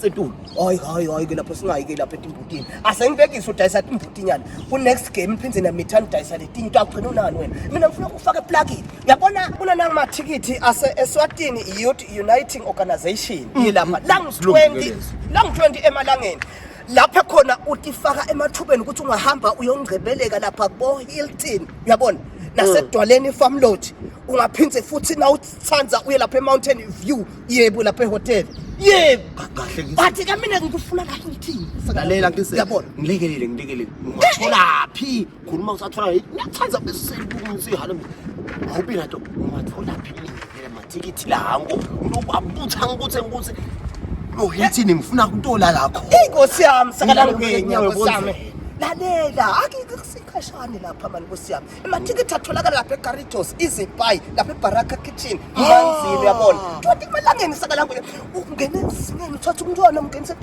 setulu hayi hayi hayi ke lapho singayi ke lapha etimbutini asengibekise udayisa timbutinyana ku-next game niphinde namithani udayisa letinye into agcina unani wena mina ngifuna ukufaka eplakini yabona kunanamathikithi ase-eswatini youth uniting organization mm. yilapha langu-20 langu-20 emalangeni lapha khona utifaka emathubeni ukuthi ungahamba uyongcebeleka lapha bo-hilton uyabona nasedwaleni mm. ifarm lodge ungaphinde futhi nawuthi Sanza uye lapha eMountain View yebo lapha ehotel yebo kahle bathi ke mina ngikufuna kahle ngithini lalela ngise yabona ngilekelele ngilekelele ungathola phi khuluma usathola ngiyathanza bese sihala awubi nato ungathola phi mina mathikithi lango unobabutha ngikuthe ngikuthe lo yithini ngifuna kutola lakho inkosi yami sakalala ngenyawo sami lalela akike kusikhashane lapha mani nkosi yami amathikithi atholakala lapha egaritos izipayi lapha ebaraka kitchen ibanzini uyabona twenty emalangeni sakalanguye ungene emzimeni uthatha umntwana umngenise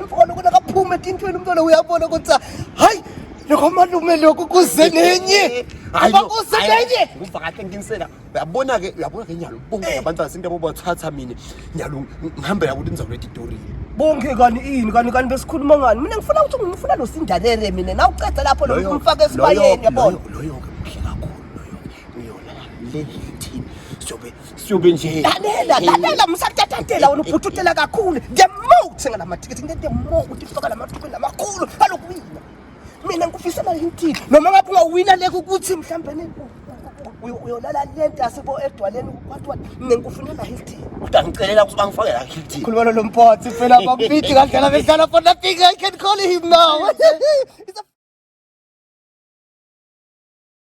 imfono kona kaphume etintweni umntwana uyabona ukuthi hayi lokho malume lokhu kuze nenye hayi kuze nenye ngumva kahle nginsela uyabona ke uyabona ke nyalo bonke eh. abantu asinto yabo bathatha mina nyalo ngihambela ukuthi nizawuleta itori bonke kani ini kani kani besikhuluma ngani mina ngifuna ukuthi ngifuna lo sindalere mina na uceda lapho lo umfaka esibayeni yabona loyo ke muhle kakhulu loyo uyona le thini siyobe siyobe nje lalela lalela musatatantela wena ubhuthutela kakhulu the moat ngalamathikithi ngeke the moat ufaka lamathuku lamakhulu alokuwina mina ngikufisa malintini noma ngabe ungawina leke ukuthi mhlawumbe ne uyolala le ntasi bo edwaleni kwathiwa mina ngikufunela hilti kodwa ngicelela ukuthi bangifake la hilti khulumela lo mphothi phela bampiti kandlela bedlala for nothing i can call him now